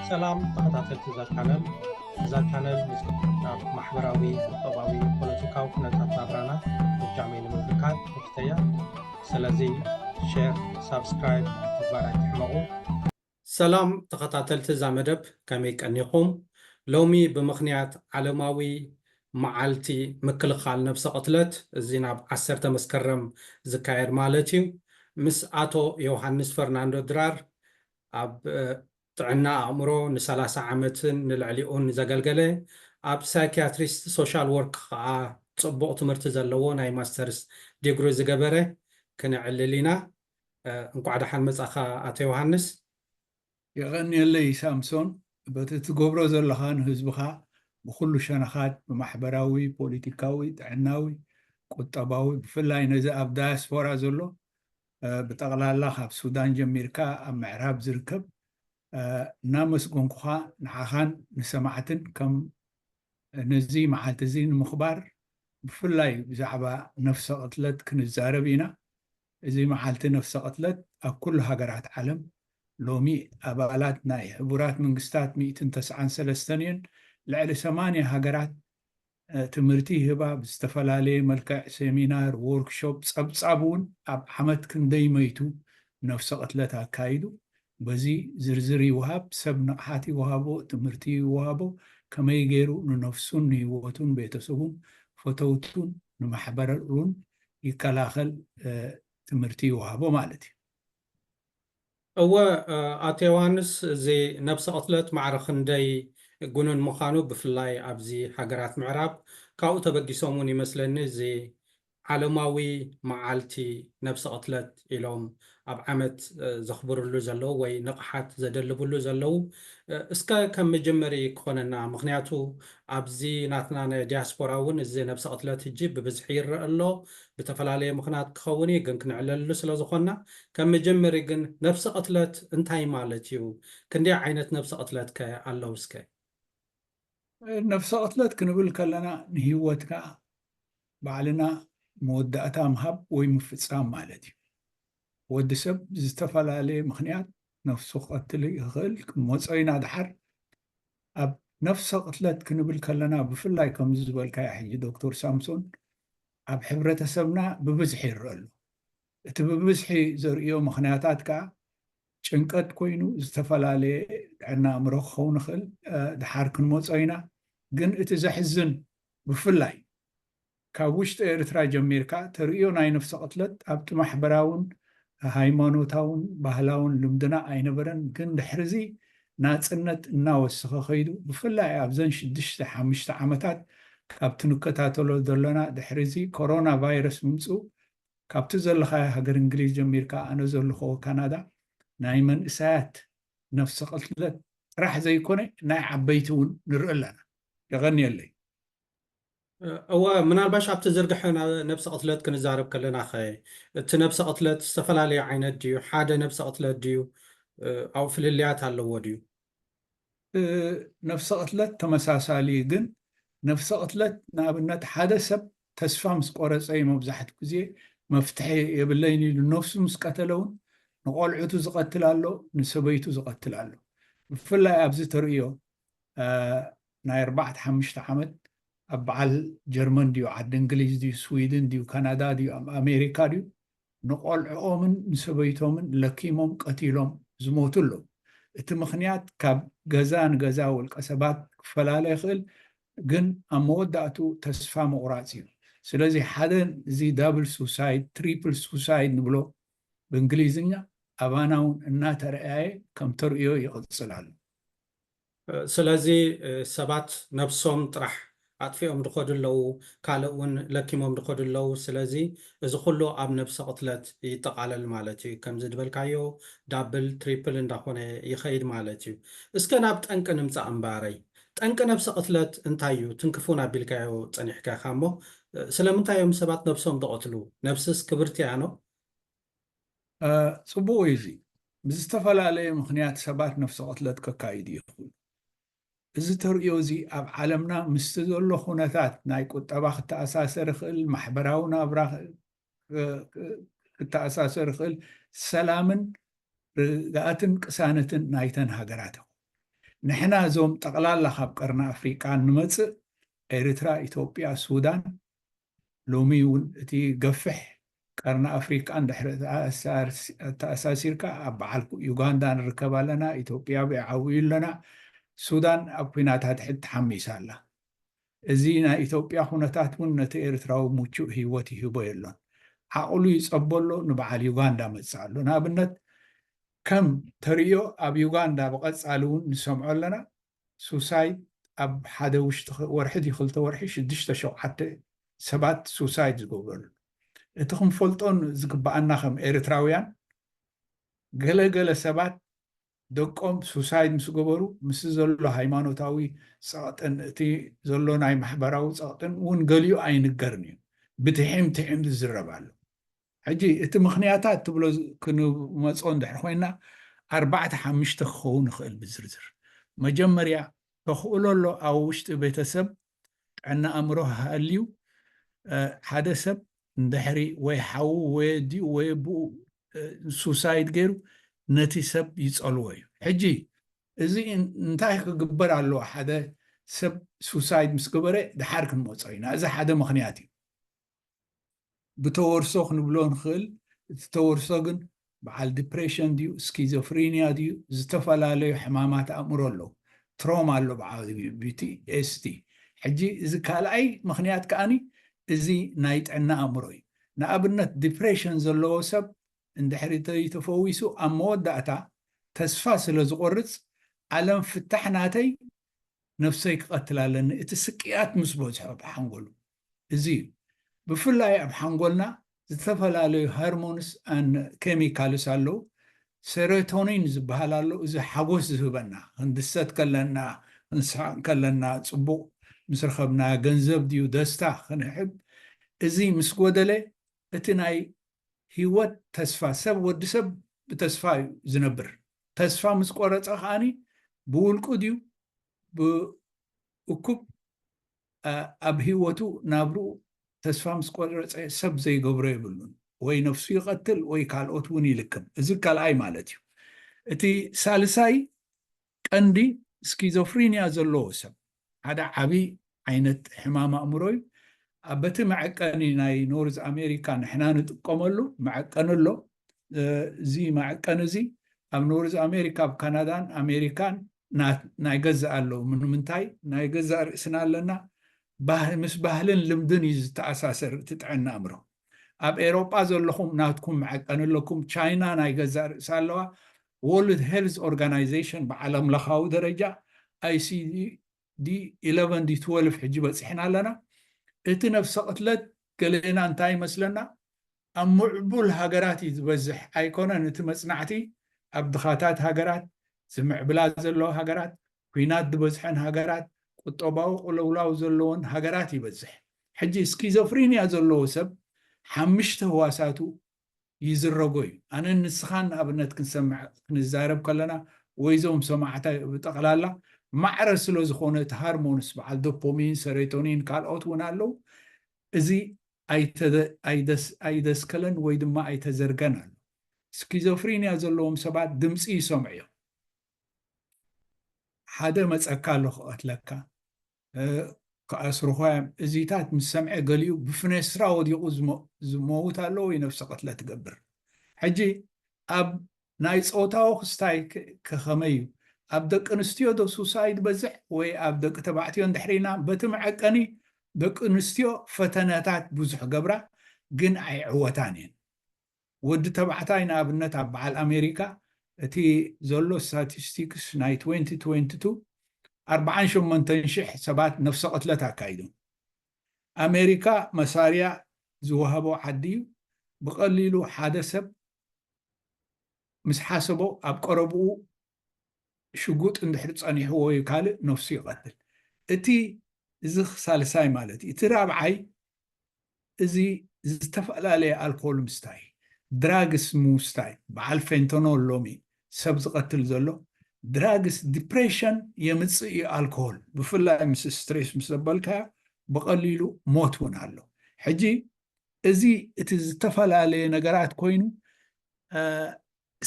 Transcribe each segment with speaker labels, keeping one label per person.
Speaker 1: ሰላም ተኸታተልቲ እዛ ቻነል እዛ ቻነል ምስ ናብ ማሕበራዊ ቁጠባዊ ፖለቲካዊ ኩነታት ናብራና ብጃመይ ንምብርካት ተፍተያ ስለዚ ሼር ሳብስክራይብ ምግባር ኣይትሕመቑ ሰላም ተኸታተልቲ እዛ መደብ ከመይ ቀኒኹም ሎሚ ብምኽንያት ዓለማዊ መዓልቲ ምክልኻል ነብሰ ቅትለት እዚ ናብ ዓሰርተ መስከረም ዝካየድ ማለት እዩ ምስ ኣቶ ዮውሃንስ ፈርናንዶ ድራር ኣብ ጥዕና ኣእምሮ ን ሰላሳ ዓመትን ንልዕሊኡን ዘገልገለ ኣብ ሳይክያትሪስት ሶሻል ወርክ ከኣ ጽቡቕ ትምህርቲ ዘለዎ ናይ ማስተርስ ዲግሪ ዝገበረ ክነዕልል ኢና እንቋዕ ደሓን መጻኻ ኣቶ ዮውሃንስ።
Speaker 2: የቐንየለይ ሳምሶን በቲ ትገብሮ ዘለኻ ንህዝብኻ ብኹሉ ሸነኻት ብማሕበራዊ፣ ፖሊቲካዊ፣ ጥዕናዊ፣ ቁጠባዊ ብፍላይ ነዚ ኣብ ዳያስፖራ ዘሎ ብጠቕላላ ካብ ሱዳን ጀሚርካ ኣብ ምዕራብ ዝርከብ እናመስጎንኩኻ ንዓኻን ንሰማዕትን ከም ነዚ መዓልቲ እዚ ንምኽባር ብፍላይ ብዛዕባ ነፍሰ ቅትለት ክንዛረብ ኢና እዚ መዓልቲ ነፍሰ ቅትለት ኣብ ኩሉ ሃገራት ዓለም ሎሚ ኣባላት ናይ ሕቡራት መንግስታት ሚእትን ተስዓን ሰለስተን እዩን። ልዕሊ ሰማንያ ሃገራት ትምህርቲ ይህባ ብዝተፈላለየ መልክዕ ሴሚናር፣ ዎርክሾፕ፣ ጸብጻብ እውን ኣብ ዓመት ክንደይ መይቱ ነፍሰ ቅትለት ኣካይዱ በዚ ዝርዝር ይውሃብ ሰብ ንቕሓት ይውሃቦ ትምህርቲ ይውሃቦ ከመይ ገይሩ ንነፍሱን ንህይወቱን ቤተሰቡን ፈተውቱን ንማሕበሩን ይከላኸል ትምህርቲ ይውሃቦ ማለት እዩ።
Speaker 1: እወ ኣቶ ዮውሃንስ እዚ ነብሰ ቅትለት ማዕረ ክንደይ ጉኑን ምዃኑ ብፍላይ ኣብዚ ሃገራት ምዕራብ ካብኡ ተበጊሶም ውን ይመስለኒ እዚ ዓለማዊ መዓልቲ ነብሰ ቅትለት ኢሎም ኣብ ዓመት ዘኽብርሉ ዘለዉ ወይ ንቕሓት ዘደልብሉ ዘለዉ እስከ ከም መጀመሪ ክኾነና ምኽንያቱ ኣብዚ ናትና ናይ ዲያስፖራ እውን እዚ ነብሰ ቅትለት ህጂ ብብዝሒ ይረእ ኣሎ ብተፈላለየ ምኽናት ክኸውን እዩ ግን ክንዕለሉ ስለ ዝኾንና ከም መጀመሪ ግን ነብሰ ቅትለት እንታይ ማለት እዩ ክንደይ ዓይነት ነብሰ ቅትለት ከ ኣለዉ እስከ ነብሰ
Speaker 2: ቅትለት ክንብል ከለና ንሂወትካ ባዕልና መወዳእታ ምሃብ ወይ ምፍጻም ማለት እዩ። ወዲ ሰብ ብዝተፈላለየ ምኽንያት ነፍሱ ክቐትል ይኽእል። ክንመጾ ኢና ደሓር። ኣብ ነፍሰ ቅትለት ክንብል ከለና ብፍላይ ከምዚ ዝበልካዮ ሕጂ ዶክተር ሳምሶን ኣብ ሕብረተሰብና ብብዝሒ ይረአ ኣሎ። እቲ ብብዝሒ ዘርእዮ ምኽንያታት ከኣ ጭንቀት ኮይኑ ዝተፈላለየ ጥዕና ኣእምሮ ክኸውን ይኽእል። ደሓር ክንመጾ ኢና። ግን እቲ ዘሕዝን ብፍላይ ካብ ውሽጢ ኤርትራ ጀሚርካ ተርእዮ ናይ ነፍሰ ቅትለት ኣብቲ ማሕበራውን ሃይማኖታውን ባህላውን ልምድና ኣይነበረን ግን ድሕሪዚ ናጽነት እናወሰኸ ከይዱ ብፍላይ ኣብዘን ሽዱሽተ ሓሙሽተ ዓመታት ካብቲ ንከታተሎ ዘሎና ድሕሪዚ ኮሮና ቫይረስ ምምጽኡ ካብቲ ዘለኻዮ ሃገር እንግሊዝ ጀሚርካ ኣነ ዘልኸዎ ካናዳ ናይ መንእሰያት ነፍሰ ቅትለት ጥራሕ ዘይኮነ ናይ ዓበይቲ እውን ንርኢ ኣለና። የቐንየለይ።
Speaker 1: እወ፣ ምናልባሽ ኣብቲ ዝርግሐ ነብሰ ቅትለት ክንዛረብ ከለናኸ፣ እቲ ነብሰ ቅትለት ዝተፈላለየ ዓይነት ድዩ፣ ሓደ ነብሰ ቅትለት ድዩ፣ ኣብኡ ፍልልያት ኣለዎ ድዩ?
Speaker 2: ነብሰ ቅትለት ተመሳሳሊ እዩ፣ ግን ነብሰ ቅትለት ንኣብነት ሓደ ሰብ ተስፋ ምስ ቆረጸ እዩ መብዛሕትኡ ግዜ መፍትሒ የብለይን ኢሉ ነብሱ ምስ ቀተለ እውን ንቆልዑቱ ዝቐትል ኣሎ፣ ንሰበይቱ ዝቐትል ኣሎ። ብፍላይ ኣብዚ ተርእዮ ናይ ኣርባዕተ ሓምሽተ ዓመት ኣብ በዓል ጀርመን ድዩ ዓዲ እንግሊዝ ድዩ ስዊድን ድዩ ካናዳ ድዩ ኣሜሪካ ድዩ ንቆልዕኦምን ንሰበይቶምን ለኪሞም ቀቲሎም ዝሞቱ ኣለዉ እቲ ምኽንያት ካብ ገዛ ንገዛ ውልቀ ሰባት ክፈላለ ይኽእል ግን ኣብ መወዳእቱ ተስፋ ምቑራፅ እዩ ስለዚ ሓደ እዚ ዳብል ሱሳይድ ትሪፕል ሱሳይድ ንብሎ ብእንግሊዝኛ ኣባና እውን እናተረኣየ ከም ተርእዮ ይቕፅል ኣሎ
Speaker 1: ስለዚ ሰባት ነብሶም ጥራሕ ኣጥፊኦም ድኸዱ ኣለዉ ካልእ ውን ለኪሞም ድኸዱ ኣለዉ ስለዚ እዚ ኩሉ ኣብ ነብሰ ቅትለት ይጠቃለል ማለት እዩ ከምዚ ድበልካዮ ዳብል ትሪፕል እንዳኾነ ይኸይድ ማለት እዩ እስከ ናብ ጠንቂ ንምጻእ እምባረይ ጠንቂ ነብሰ ቅትለት እንታይ እዩ ትንክፉን ኣቢልካዮ ጸኒሕካ ኢኻ እሞ ስለምንታይ እዮም ሰባት ነብሶም ድቀትሉ ነብስስ ክብርቲ እያ ን
Speaker 2: ጽቡቕ እዩ እዚ ብዝተፈላለየ ምኽንያት ሰባት ነፍሰ ቅትለት ከካይዱ ይኽእሉ እዚ ተርእዮ እዚ ኣብ ዓለምና ምስቲ ዘሎ ኩነታት ናይ ቁጠባ ክተኣሳሰር ይኽእል ማሕበራዊ ናብራ ክተኣሳሰር ይኽእል ሰላምን ርግኣትን ቅሳነትን ናይተን ሃገራት ይኹ ንሕና እዞም ጠቕላላ ካብ ቀርኒ ኣፍሪቃ ንመጽእ ኤርትራ ኢትዮጵያ ሱዳን ሎሚ'ውን እቲ ገፍሕ ቀርኒ ኣፍሪቃ ድሕሪ ኣተኣሳሲርካ ኣብ በዓል ዩጋንዳ ንርከብ ኣለና፣ ኢትዮጵያ ብዓብዩ ኣለና፣ ሱዳን ኣብ ኲናት ኣድሕድ ተሓሚሳ ኣላ። እዚ ናይ ኢትዮጵያ ኩነታት'ውን ነቲ ኤርትራዊ ምቹእ ህይወት ይህቦ የሎን። ዓቕሉ ይጸቦ ኣሎ ንበዓል ዩጋንዳ መጽእ ኣሎ። ንኣብነት ከም ተርእዮ ኣብ ዩጋንዳ ብቐጻሊ'ውን ንሰምዖ ኣለና ሱሳይድ ኣብ ሓደ ውሽጢ ወርሒ ድዩ ክልተ ወርሒ ሽዱሽተ ሸውዓተ ሰባት ሱሳይድ ዝገብረሉ እቲ ክንፈልጦ ዝግበኣና ከም ኤርትራውያን ገለ ገለ ሰባት ደቆም ሱሳይድ ምስ ገበሩ ምስ ዘሎ ሃይማኖታዊ ጸቕጥን እቲ ዘሎ ናይ ማሕበራዊ ጸቕጥን እውን ገሊኡ ኣይንገርን እዩ ብትሒም ትሒም ዝዝረብ ኣሎ ሕጂ እቲ ምኽንያታት ትብሎ ክንመጾ እንድሕር ኮይና ኣርባዕተ ሓምሽተ ክኸውን ይኽእል ብዝርዝር መጀመርያ ተኽእሎ ኣሎ ኣብ ውሽጢ ቤተሰብ ጥዕና ኣእምሮ ሃልዩ ሓደ ሰብ እንድሕሪ ወይ ሓዉ ወይ ኣዲኡ ወይ ኣቦኡ ሱሳይድ ገይሩ ነቲ ሰብ ይፀልዎ እዩ ሕጂ እዚ እንታይ ክግበር ኣለዎ ሓደ ሰብ ሱሳይድ ምስ ገበረ ድሓር ክንመፆ ኢና እዚ ሓደ ምክንያት እዩ ብተወርሶ ክንብሎ ንኽእል እቲ ተወርሶ ግን በዓል ዲፕሬሽን ድዩ ስኪዞፍሪንያ ድዩ ዝተፈላለዩ ሕማማት ኣእምሮ ኣለዉ ትሮማ ኣሎ ብዓቢኡ ቢቲኤስቲ ሕጂ እዚ ካልኣይ ምክንያት ከኣኒ እዚ ናይ ጥዕና ኣእምሮ እዩ ንኣብነት ዲፕሬሽን ዘለዎ ሰብ እንድሕሪ ተፈዊሱ ኣብ መወዳእታ ተስፋ ስለ ዝቆርፅ ዓለም ፍታሕ ናተይ ነብሰይ ክቐትል ኣለኒ እቲ ስቅያት ምስ በዝሖ ብሓንጎሉ እዚ እዩ ብፍላይ ኣብ ሓንጎልና ዝተፈላለዩ ሀርሞንስ and ኬሚካልስ ኣለው ሰረቶኒን ዝብሃል ኣሎ እዚ ሓጎስ ዝህበና ክንድሰት ከለና ክንስሕቅ ከለና ፅቡቅ ምስ ረከብና ገንዘብ ድዩ ደስታ ክንሕብ እዚ ምስ ጎደለ እቲ ናይ ሂወት ተስፋ ሰብ ወዲ ሰብ ብተስፋ እዩ ዝነብር ተስፋ ምስ ቆረፀ ከዓኒ ብውልቁ ድዩ ብእኩብ ኣብ ሂወቱ ናብርኡ ተስፋ ምስ ቆረጸ ሰብ ዘይገብሮ የብሉን ወይ ነፍሱ ይቐትል ወይ ካልኦት እውን ይልክም እዚ ካልኣይ ማለት እዩ እቲ ሳልሳይ ቀንዲ ስኪዞፍሪንያ ዘለዎ ሰብ ሓደ ዓቢ ዓይነት ሕማም ኣእምሮ እዩ በቲ መዐቀኒ ናይ ኖርዝ ኣሜሪካ ንሕና ንጥቀመሉ መዐቀኒ ኣሎ እዚ መዐቀኒ እዚ ኣብ ኖርዝ ኣሜሪካ ኣብ ካናዳን ኣሜሪካን ናይ ገዛእ ኣለዉ ምንምንታይ ናይ ገዛእ ርእስና ኣለና ምስ ባህልን ልምድን እዩ ዝተኣሳሰር እቲ ጥዕና ኣእምሮ ኣብ ኤሮጳ ዘለኹም ናትኩም መዐቀኒ ኣለኩም ቻይና ናይ ገዛእ ርእሳ ኣለዋ ወርልድ ሄልዝ ኦርጋናይዜሽን ብዓለም ለኻዊ ደረጃ ኣይሲዲ D11 D12 ሕጂ በጺሕና ኣለና እቲ ነብሰ ቅትለት ገሌና እንታይ ይመስለና ኣብ ምዕቡል ሃገራት እዩ ዝበዝሕ ኣይኮነን እቲ መጽናዕቲ ኣብ ድኻታት ሃገራት ዝምዕብላ ዘለዋ ሃገራት ኩናት ዝበዝሐን ሃገራት ቁጠባዊ ቁልውላው ዘለዎን ሃገራት ይበዝሕ ሕጂ ስኪዞፍሪንያ ዘለዎ ሰብ ሓምሽተ ህዋሳቱ ይዝረጎ እዩ። ኣነን ንስኻን ንኣብነት ክንሰምዕ ክንዛረብ ከለና ወይ እዞም ሰማዕታይ ብጠቕላላ ማዕረ ስለዝኾነ እቲ ሃርሞንስ በዓል ዶፖሚን፣ ሰሬቶኒን ካልኦት እውን ኣለው እዚ ኣይደስከለን ወይ ድማ ኣይተዘርገን ኣሎ። ስኪዞፍሪንያ ዘለዎም ሰባት ድምፂ ይሰምዑ እዮም። ሓደ መፀካ ኣሎ ክቐትለካ፣ ክኣስሩኻ'ዮም። እዚታት ምስ ሰምዐ ገሊኡ ብፍነስትራ ወዲቑ ዝመውት ኣሎ ወይ ነብሰ ቅትለት ይገብር። ሕጂ ኣብ ናይ ጾታዊ ክስታይ ከ ከመይ'ዩ? ኣብ ደቂንስትዮ ዶ ሱሳይድ ይበዝሕ ወይ ኣብ ደቂ ተባዕትዮ እንድሕሪልና በቲ መዐቀኒ ደቂንስትዮ ፈተነታት ብዙሕ ገብራ ግን ኣይዕወታን'የን። ወዲ ተባዕታይ ንኣብነት ኣብ በዓል ኣሜሪካ እቲ ዘሎ ስታቲስቲክስ ናይ ትዌንቲ ትዌንቲ ቱ ኣርብዓን ሸሞንተን ሽሕ ሰባት ነፍሰ ቅትለት ኣካይዶም። ኣሜሪካ መሳርያ ዝወሃቦ ዓዲ እዩ፣ ብቐሊሉ ሓደ ሰብ ምስ ሓሰቦ ኣብ ቀረብኡ ሽጉጥ እንድሕር ጸኒሕዎ እዩ ካልእ ነፍሱ ይቐትል እቲ እዚ ሳልሳይ ማለት እዩ እቲ ራብዓይ እዚ ዝተፈላለየ ኣልኮል ምስታይ ድራግስ ምውስታይ በዓል ፌንቶኖል ሎሚ ሰብ ዝቐትል ዘሎ ድራግስ ዲፕሬሽን የምፅእ እዩ ኣልኮል ብፍላይ ምስ ስትሬስ ምስ ዘበልካዮ ብቐሊሉ ሞት እውን ኣሎ ሕጂ እዚ እቲ ዝተፈላለየ ነገራት ኮይኑ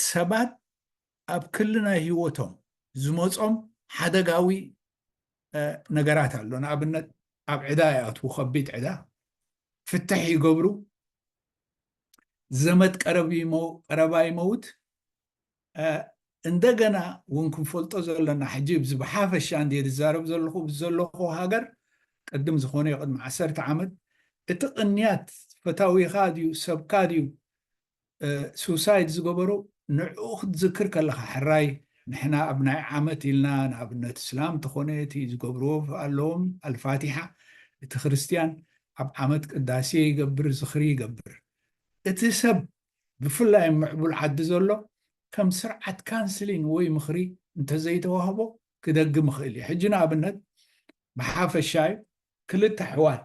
Speaker 2: ሰባት ኣብ ክሊ ናይ ህይወቶም ዝመፆም ሓደጋዊ ነገራት ኣሎ። ንኣብነት ኣብ ዕዳ ይኣትዉ፣ ከቢድ ዕዳ፣ ፍትሕ ይገብሩ፣ ዘመድ ቀረባ ይመውት። እንደገና እውን ክንፈልጦ ዘለና ሕጂ ብዝሓፈሻ እንድየ ዝዛረብ ዘለኹ ዘለኹ ሃገር ቅድም ዝኾነ ቅድሚ ዓሰርተ ዓመት እቲ ቅንያት ፈታዊኻ ድዩ ሰብካ ድዩ ሱሳይድ ዝገበሩ ንዕኡ ክትዝክር ከለኻ ሕራይ ንሕና ኣብ ናይ ዓመት ኢልና ንኣብነት እስላም ተኾነ እቲ ዝገብርዎ ኣለዎም ኣልፋቲሓ እቲ ክርስትያን ኣብ ዓመት ቅዳሴ ይገብር ዝኽሪ ይገብር እቲ ሰብ ብፍላይ ኣብ ምዕቡል ዓዲ ዘሎ ከም ስርዓት ካንስሊን ወይ ምኽሪ እንተዘይተዋህቦ ክደግም ይኽእል እዩ ሕጂ ንኣብነት ብሓፈሻ እዩ ክልተ ኣሕዋት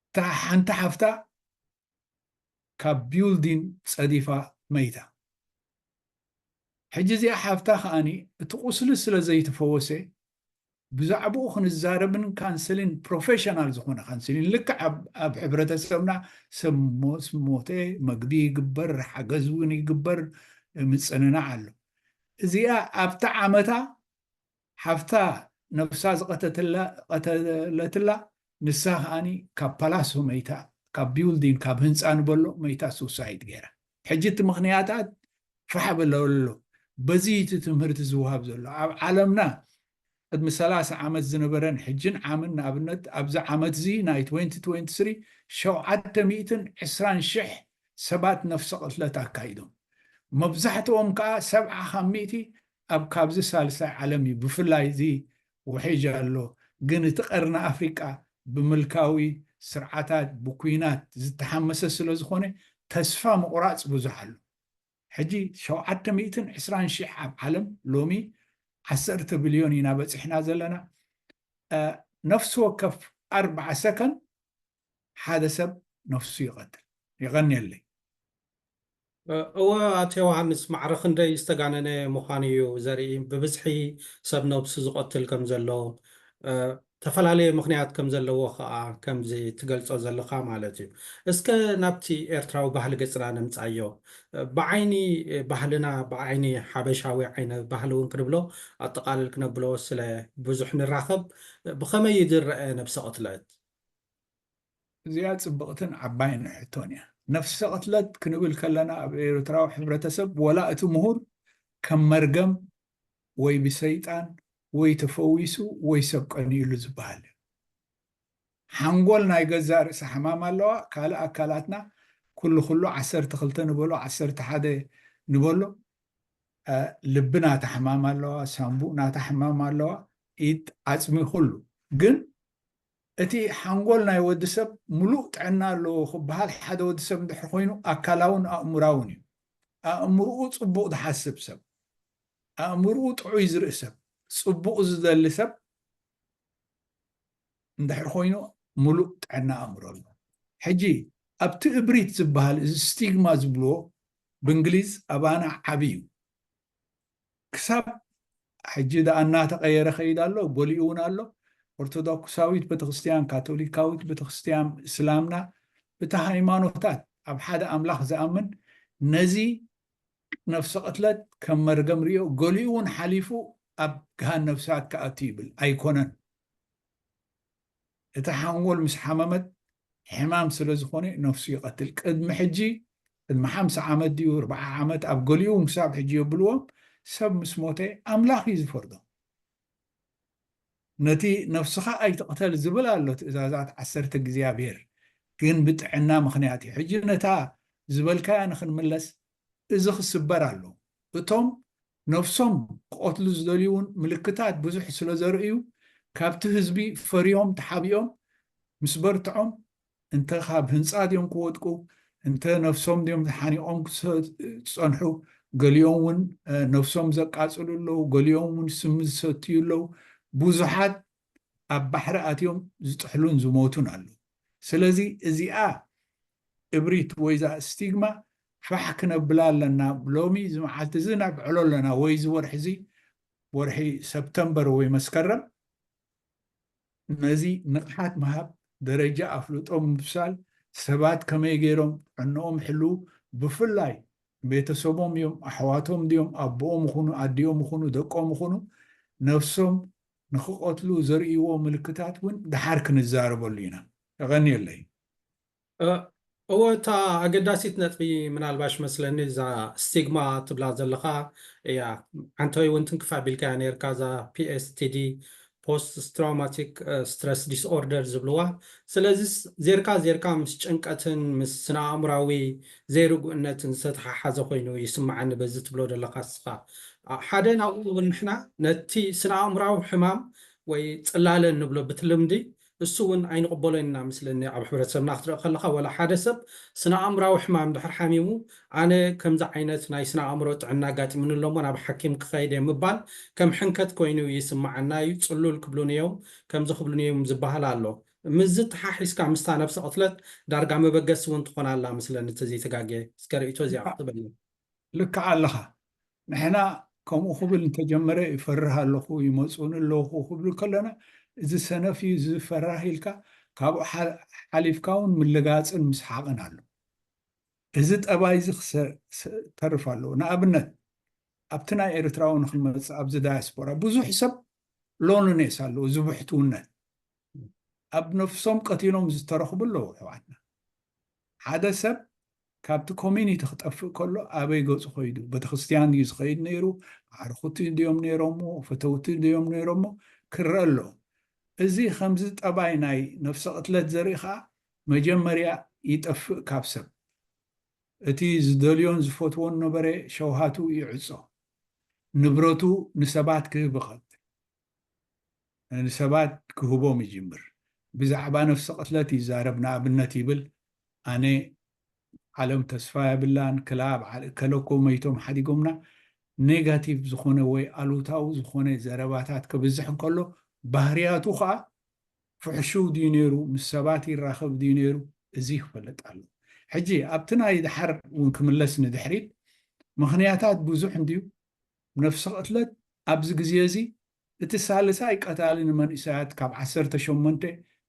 Speaker 2: እታ ሓንቲ ሓፍታ ካብ ቢውልዲን ጸዲፋ መይታ። ሕጂ እዚኣ ሓፍታ ከኣ እቲ ቁስሊ ስለ ዘይተፈወሰ ብዛዕብኡ ክንዛረብን ካንስሊን ፕሮፌሽናል ዝኾነ ካንስሊን ልክዕ ኣብ ሕብረተሰብና ሰብ ምስ ሞተ መግቢ ይግበር ሓገዝ እውን ይግበር ምጽንናዕ ኣሎ። እዚኣ ኣብታ ዓመታ ሓፍታ ነብሳ ዝቐተለትላ ንሳ ከኣ ካብ ፓላሶ መይታ ካብ ቢውልዲን ካብ ህንጻ ንበሎ መይታ ሱሳይድ ገይራ ሕጂ እቲ ምኽንያታ ፋሕ በሎ ኣሎ በዚ እቲ ትምህርቲ ዝውሃብ ዘሎ ኣብ ዓለምና ቅድሚ ሰላሳ ዓመት ዝነበረን ሕጅን ዓምን ንኣብነት ኣብዚ ዓመት እዚ ናይ ትወንቲ ትወንቲ ስሪ ሸውዓተ ሚእትን ዕስራን ሽሕ ሰባት ነፍሰ ቅትለት ኣካይዶም መብዛሕትኦም ከኣ ሰብዓ ካብ ሚእቲ ኣብ ካብዚ ሳልሳይ ዓለም እዩ ብፍላይ እዚ ውሒጅ ኣሎ ግን እቲ ቀርኒ ኣፍሪቃ ብምልካዊ ስርዓታት ብኩናት ዝተሓመሰ ስለዝኾነ ተስፋ ምቑራጽ ብዙሕ ኣሎ ሕጂ ሸውዓተ ሚእትን ዕስራን ሺሕ ኣብ ዓለም ሎሚ ዓሰርተ ብልዮን ኢና በጺሕና ዘለና ነፍሲ ወከፍ ኣርብዓ ሰከን ሓደ ሰብ ነፍሱ ይቐትል። የቐንየለይ።
Speaker 1: እወ ኣቶ ዮውሃንስ ማዕረ ክንደይ ዝተጋነነ ምዃኑ እዩ ዘርኢ ብብዝሒ ሰብ ነብሱ ዝቐትል ከም ዘሎ ተፈላለየ ምኽንያት ከም ዘለዎ ከኣ ከምዚ ትገልጾ ዘለኻ ማለት እዩ እስከ ናብቲ ኤርትራዊ ባህሊ ገጽና ንምጻዮ ብዓይኒ ባህልና ብዓይኒ ሓበሻዊ ዓይነ ባህሊ እውን ክንብሎ ኣጠቓልል ክነብሎ ስለ ብዙሕ ንራኸብ ብኸመይ እዩ ዝረኣ ነብሰ ቅትለት
Speaker 2: እዚኣ ጽብቕትን ዓባይን ሕቶን እያ። ነፍሰ ቅትለት ክንብል ከለና ኣብ ኤርትራዊ ሕብረተሰብ ወላ እቲ ምሁር ከም መርገም ወይ ብሰይጣን ወይ ተፈዊሱ ወይ ሰብ ቀንዩሉ ዝበሃል እዩ። ሓንጎል ናይ ገዛእ ርእሳ ሕማም ኣለዋ፣ ካልእ ኣካላትና ኩሉ ኩሉ ዓሰርተ ክልተ ንበሎ ዓሰርተ ሓደ ንበሎ ልቢ ናታ ሕማም ኣለዋ፣ ሳንቡእ ናታ ሕማም ኣለዋ፣ ኢድ፣ ዓጽሚ ኩሉ ግን እቲ ሓንጎል ናይ ወዲ ሰብ ምሉእ ጥዕና ኣለዎ ክበሃል ሓደ ወዲ ሰብ እንድሕር ኮይኑ ኣካላውን ኣእምራውን እዩ። ኣእምርኡ ጽቡቕ ዝሓስብ ሰብ፣ ኣእምርኡ ጥዑይ ዝርኢ ሰብ፣ ጽቡቕ ዝደሊ ሰብ እንድሕር ኮይኑ ምሉእ ጥዕና ኣእምሮ ኣሎ። ሕጂ ኣብቲ እብሪት ዝበሃል እዚ ስቲግማ ዝብልዎ ብእንግሊዝ ኣባና ዓቢ እዩ። ክሳብ ሕጂ ደኣ እናተቐየረ ከይድ ኣሎ፣ ጎሊኡ እውን ኣሎ። ኦርቶዶክሳዊት ቤተክርስቲያን፣ ካቶሊካዊት ቤተክርስቲያን፣ እስላምና እቲ ሃይማኖታት ኣብ ሓደ ኣምላኽ ዝኣምን ነዚ ነፍሰ ቅትለት ከም መርገም ሪኦ ገሊኡ እውን ሓሊፉ ኣብ ገሃነብ እሳት ክኣቱ ይብል ኣይኮነን። እታ ሓንጎል ምስ ሓመመት ሕማም ስለ ዝኾነ ነፍሱ ይቐትል ቅድሚ ሕጂ ቅድሚ ሓምሳ ዓመት ድዩ ኣርብዓ ዓመት ኣብ ገሊኡውን ክሳብ ሕጂ የብልዎም ሰብ ምስ ሞተ ኣምላኽ እዩ ዝፈርዶ ነቲ ነፍስኻ ኣይትቕተል ዝብል ኣሎ ትእዛዛት ዓሰርተ እግዚኣብሔር ግን ብጥዕና ምክንያት እዩ ሕጂ ነታ ዝበልካያ ንክንምለስ እዚ ክስበር ኣለዎ። እቶም ነብሶም ክቐትሉ ዝደልዩ'ውን ምልክታት ብዙሕ ስለዘርእዩ ካብቲ ህዝቢ ፈርዮም ተሓቢኦም ምስ በርትዖም እንተ ካብ ህንጻ ድዮም ክወድቁ እንተ ነብሶም ድዮም ተሓኒቖም ክጸንሑ ገሊኦም'ውን ነብሶም ዘቃጽሉ ኣለዉ ገሊኦም'ውን ስሚ ዝሰትዩ ኣለዉ ብዙሓት ኣብ ባሕሪ ኣትዮም ዝጥሕሉን ዝሞቱን ኣለዉ። ስለዚ እዚኣ እብሪት ወይ እዛ እስቲግማ ፋሕ ክነብላ ኣለና ሎሚ እዚ መዓልቲ እዚ ነብዕሎ ኣለና ወይ እዚ ወርሒ እዚ ወርሒ ሰፕተምበር ወይ መስከረም ነዚ ንቕሓት ምሃብ ደረጃ ኣፍልጦ ምብሳል ሰባት ከመይ ገይሮም ጥዕንኦም ይሕልው ብፍላይ ቤተሰቦም እዮም ኣሕዋቶም ድዮም ኣቦኦም ይኹኑ ኣዲኦም ይኹኑ ደቆም ይኹኑ ነፍሶም ንኽቐትሉ ዘርእይዎ ምልክታት እውን ደሓር ክንዛረበሉ ኢና። የቐንየለይ።
Speaker 1: እወ እታ ኣገዳሲት ነጥቢ ምናልባሽ መስለኒ እዛ ስቲግማ ትብላ ዘለኻ እያ ዓንተወይ እውን ትንክፍ ኣቢልካያ ነርካ እዛ PSTD ፖስት ትራውማቲክ ስትረስ ዲስኦርደር ዝብልዋ ስለዚ ዜርካ ዜርካ ምስ ጭንቀትን ምስ ስነ ኣእምራዊ ዘይርጉእነትን ዝተተሓሓዘ ኮይኑ ይስመዓኒ በዚ ትብሎ ዘለካ እስኻ ሓደ ናብኡ ውን ንሕና ነቲ ስነኣእምራዊ ሕማም ወይ ጽላለ ንብሎ ብትልምዲ እሱ ውን ኣይንቕበሎን ኢና መስለኒ ኣብ ሕብረተሰብና ክትርኢ ከለኻ ወላ ሓደ ሰብ ስነኣእምራዊ ሕማም ድሕር ሓሚሙ ኣነ ከምዚ ዓይነት ናይ ስነኣእምሮ ጥዕና ኣጋጢሙኒ ኣሎ እሞ ናብ ሓኪም ክኸይድ እየ ምባል ከም ሕንከት ኮይኑ ይስመዓና እዩ ጽሉል ክብሉኒ እዮም ከምዚ ክብሉኒ እዮም ዝበሃል ኣሎ ምስዚ ተሓሒዝካ ምስታ ነብሰ ቅትለት ዳርጋ መበገሲ ውን ትኾን ኣላ መስለኒ ተዘይ ተጋግየ እስከ ርእይቶ እዚኣ ክትበልና። ልክዕ
Speaker 2: ኣለኻ ንሕና ከምኡ ክብል እንተጀመረ ይፈርህ ኣለኹ ይመጽኡኒ ኣለኹ ክብል ከለና እዚ ሰነፍ እዩ እዚ ፈራህ ኢልካ ካብኡ ሓሊፍካ ውን ምልጋጽን ምስሓቕን ኣሎ እዚ ጠባይ እዚ ክተርፍ ኣለዎ ንኣብነት ኣብቲ ናይ ኤርትራዊ ንክንመጽእ ኣብዚ ዳያስፖራ ብዙሕ ሰብ ሎንኔስ ኣለዎ ዝብሕትውነት ኣብ ነፍሶም ቀቲሎም ዝተረኽቡ ኣለዉ ኣሕዋትና። ሓደ ሰብ ካብቲ ኮሚኒቲ ክጠፍእ ከሎ ኣበይ ገፁ ከይዱ ቤተክርስትያን እዩ ዝኸይድ ነይሩ ኣዕርኹቲ ድዮም ነይሮሞ ፈተውቲ ድዮም ነይሮሞ ክረአ ኣሎ እዚ ከምዚ ጠባይ ናይ ነፍሰ ቅትለት ዘርኢ ከዓ መጀመርያ ይጠፍእ ካብ ሰብ እቲ ዝደልዮን ዝፈትዎን ነበረ ሸውሃቱ ይዕፆ ንብረቱ ንሰባት ክህብ ይኸል ንሰባት ክህቦም ይጅምር። ብዛዕባ ነፍሲ ቅትለት ይዛረብ ንኣብነት ይብል ኣነ ዓለም ተስፋ የብላን ክላ በዓል እከለ እኮ መይቶም ሓዲጎምና ኔጋቲቭ ዝኾነ ወይ ኣሉታዊ ዝኾነ ዘረባታት ክብዝሕ እንከሎ ባህርያቱ ከዓ ፍሕሹው ድዩ ነይሩ ምስ ሰባት ይራኸብ ድዩ ነይሩ እዚ ክፈልጥ ኣሎ ሕጂ ኣብቲ ናይ ድሓር እውን ክምለስ ንድሕሪት ምኽንያታት ብዙሕ እንድዩ ነፍሲ ቅትለት ኣብዚ ግዜ እዚ እቲ ሳልሳይ ቀታሊ ንመንእሰያት ካብ ዓሰርተ ሸሞንተ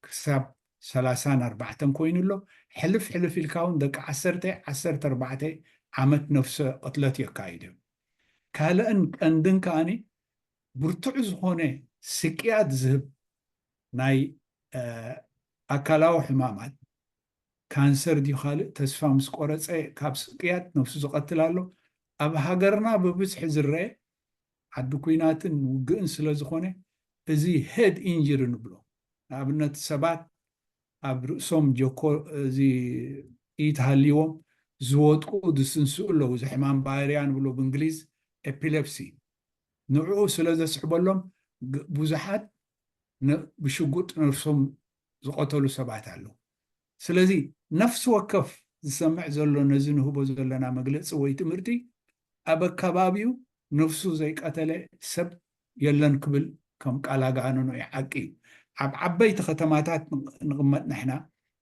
Speaker 2: ክሳብ ሰላሳን ኣርባዕተን ኮይኑ ኣሎ፣ ሕልፍ ሕልፍ ኢልካ ውን ደቂ ዓሰርተ፣ ዓሰርተ ኣርባዕተ ዓመት ነፍሰ ቅትለት የካይዱ እዮም። ካልእን ቀንድን ከኣ ብርቱዕ ዝኾነ ስቅያት ዝህብ ናይ ኣካላዊ ሕማማት፣ ካንሰር ድዩ ካልእ ተስፋ ምስ ቆረጸ ካብ ስቅያት ነብሱ ዝቐትል ኣሎ። ኣብ ሃገርና ብብዝሒ ዝረኤ ዓዲ ኩናትን ውግእን ስለ ዝኾነ እዚ ሄድ ኢንጅሪ ንብሎ። ንኣብነት ሰባት ኣብ ርእሶም ጀኮ እዚ ጥይት ሃልይዎም ዝወድቁ ዝስንስኡ ኣለዉ። እዚ ሕማም ባይርያ ንብሎ ብእንግሊዝ ኤፒለፕሲ ንዕኡ ስለ ዘስዕበሎም ብዙሓት ብሽጉጥ ነብሶም ዝቐተሉ ሰባት ኣለዉ። ስለዚ ነፍሲ ወከፍ ዝሰምዕ ዘሎ ነዚ ንህቦ ዘለና መግለጺ ወይ ትምህርቲ ኣብ ኣከባቢኡ ነፍሱ ዘይቀተለ ሰብ የለን ክብል ከም ቃል ኣጋንኖ እዩ። ሓቂ እዩ ኣብ ዓበይቲ ከተማታት ንቕመጥ ንሕና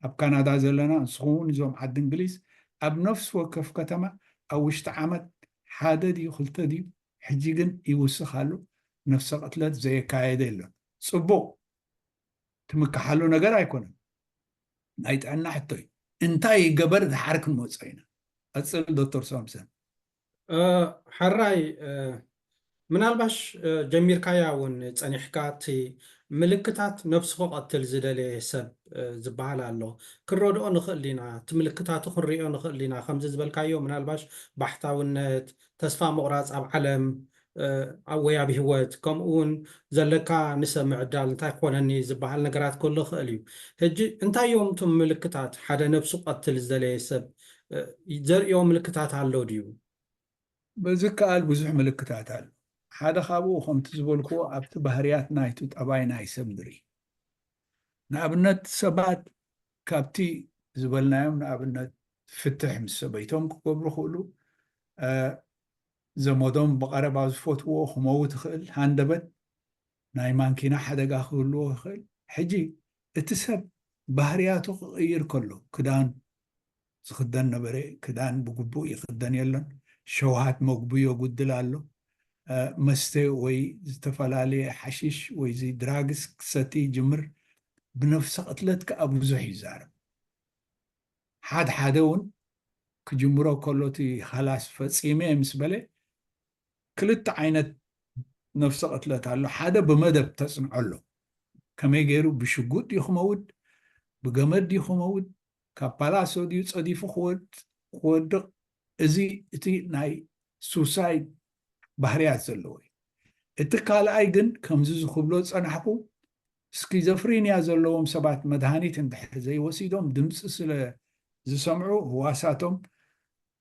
Speaker 2: ኣብ ካናዳ ዘለና ንስኹምውን እዞም ዓዲ እንግሊዝ ኣብ ነፍሲ ወከፍ ከተማ ኣብ ውሽጢ ዓመት ሓደ ድዩ ክልተ ድዩ ሕጂ ግን ይውስኽ ኣሎ ነፍሰ ቅትለት ዘየካየደ የሎን። ጽቡቕ! ትምክሓሉ ነገር ኣይኮነን ናይ ጥዕና ሕቶ እዩ እንታይ ይገበር ዝሓር ክንመፆ ኢና ቀፅል ዶክተር ሳምሰን
Speaker 1: ሓራይ ምናልባሽ ጀሚርካያ እውን ፀኒሕካ እቲ ምልክታት ነብሱ ክቐትል ዝደለየ ሰብ ዝበሃል ኣሎ ክንረድኦ ንኽእል ኢና እቲ ምልክታቱ ክንሪኦ ንኽእል ኢና ከምዚ ዝበልካዮ ምናልባሽ ባሕታውነት ተስፋ ምቑራፅ ኣብ ዓለም ወይ ኣብ ህይወት ከምኡ ውን ዘለካ ንሰብ ምዕዳል እንታይ ክኾነኒ ዝበሃል ነገራት ክህሉ ይኽእል እዩ። ሕጂ እንታይ እዮም እቶም ምልክታት? ሓደ ነብሱ ክቐትል ዝደለየ ሰብ ዘርእዮ ምልክታት ኣሎ ድዩ?
Speaker 2: ብዝከኣል ብዙሕ ምልክታት ኣሎ። ሓደ ካብኡ ከምቲ ዝበልክዎ ኣብቲ ባህርያት ናይቲ ጠባይ ናይ ሰብ ንርኢ። ንኣብነት ሰባት ካብቲ ዝበልናዮም ንኣብነት ፍትሕ ምስ ሰበይቶም ክገብሩ ይኽእሉ፣ ዘመዶም ብቐረባ ዝፈትውዎ ክመውት ይኽእል፣ ሃንደበት ናይ ማንኪና ሓደጋ ክህልዎ ይኽእል። ሕጂ እቲ ሰብ ባህርያቱ ክቕይር ከሎ ክዳን ዝኽደን ነበረ ክዳን ብግቡእ ይኽደን የሎን፣ ሸውሃት መግቡ የጉድል ኣሎ፣ መስተ ወይ ዝተፈላለየ ሓሺሽ ወይዚ ድራግስ ክሰቲ ይጅምር፣ ብነፍሰ ቅትለት ከኣ ብዙሕ ይዛረብ። ሓድ ሓደ ውን ክጅምሮ ከሎ እቲ ኻላስ ፈጺመ ምስ በለ ክልተ ዓይነት ነፍሰ ቅትለት ኣሎ ሓደ ብመደብ ተጽንዖ ኣሎ ከመይ ገይሩ ብሽጉጥ ድዩ ክመውት ብገመድ ድዩ ክመውት ካብ ፓላሶ ድዩ ጸዲፉ ክወድቕ እዚ እቲ ናይ ሱሳይድ ባህርያት ዘለዎ እዩ እቲ ካልኣይ ግን ከምዚ ዝክብሎ ዝጸናሕኩ ስኪዞፍሪንያ ዘለዎም ሰባት መድሃኒት እንድሕር ዘይወሲዶም ድምጺ ስለ ዝሰምዑ ህዋሳቶም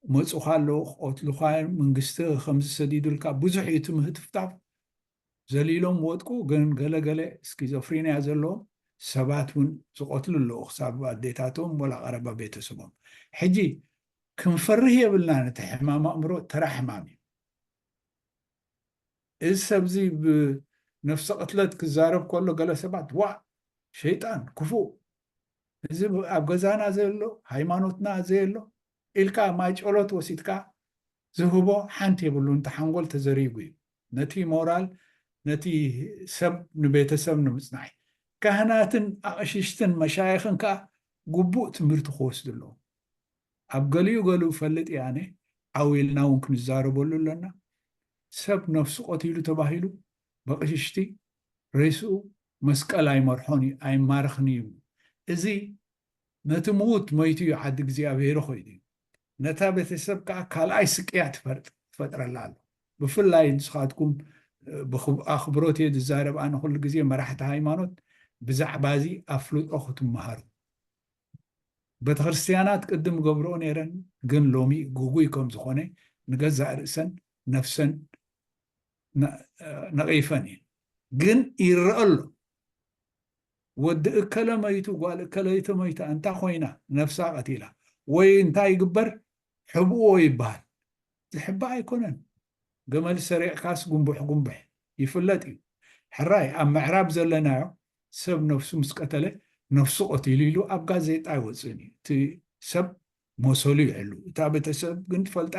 Speaker 2: ክመጹኻ ኣለዉ፣ ክቐትሉኻ እዮም፣ መንግስቲ ከምዚ ሰዲዱልካ ብዙሕ እዩ እቲ ምህትፍታፍ፣ ዘሊሎም ወድቁ፣ ግን ገለ ገለ ስኪዞፍሪንያ ዘለዎም ሰባት እውን ዝቐትሉ ኣለዉ ክሳብ ኣዴታቶም ወላ ቀረባ ቤተሰቦም። ሕጂ ክንፈርህ የብልናን እቲ ሕማም ኣእምሮ ተራ ሕማም እዩ። እዚ ሰብ እዚ ብነፍሰ ቅትለት ክዛረብ ከሎ ገለ ሰባት ዋእ ሸይጣን ክፉእ እዚ ኣብ ገዛና ዘየሎ ሃይማኖትና ዘየሎ ኢልካ ማይ ጨሎት ወሲድካ ዝህቦ ሓንቲ የብሉን እቲ ሓንጎል ተዘሪጉ እዩ ነቲ ሞራል ነቲ ሰብ ንቤተሰብ ንምፅናዕ ካህናትን ኣቕሽሽትን መሻይኽን ከዓ ግቡእ ትምህርቲ ክወስዱ ኣለዎም ኣብ ገሊኡ ገሊኡ እፈልጥ እየ ኣነ፣ ዓው ኢልና እውን ክንዛረበሉ ኣሎና፣ ሰብ ነፍሱ ቀቲሉ ተባሂሉ በቕሽሽቲ ሬስኡ መስቀል ኣይመርሖን እዩ፣ ኣይማረኽን እዩ እሞ፣ እዚ ነቲ ምዉት መይቱ እዩ ዓዲ እግዚኣብሄሩ ኮይኑ እዩ፣ ነታ ቤተሰብ ከኣ ካልኣይ ስቅያት ይፈጥረላ ኣሎ፣ ብፍላይ ንስኻትኩም ብኣኽብሮት እየ ዝዛረብ ኣነ ኩሉ ግዜ መራሕቲ ሃይማኖት ብዛዕባ እዚ ኣፍልጦ ክትመሃሩ። ቤተክርስትያናት ቅድም ገብርኦ ነይረን ግን ሎሚ ግጉይ ከም ዝኾነ ንገዛእ ርእሰን ነፍሰን ነቒፈን እየን ግን ይረአ ኣሎ ወዲ እከለ መይቱ ጓል እከለይቲ መይታ እንታ ኮይና ነፍሳ ቀቲላ ወይ እንታይ ይግበር ሕብእዎ ይበሃል ዝሕባእ ኣይኮነን ገመል ሰሪቕካስ ጉምቡሕ ጉምቡሕ ይፍለጥ እዩ ሕራይ ኣብ ምዕራብ ዘለናዮ ሰብ ነፍሱ ምስ ቀተለ ነፍሱ ቀቲሉ ኢሉ ኣብ ጋዜጣ ኣይወፅእን እዩ እቲ ሰብ መሰሉ ይሕሉ እታ ቤተሰብ ግን ትፈልጣ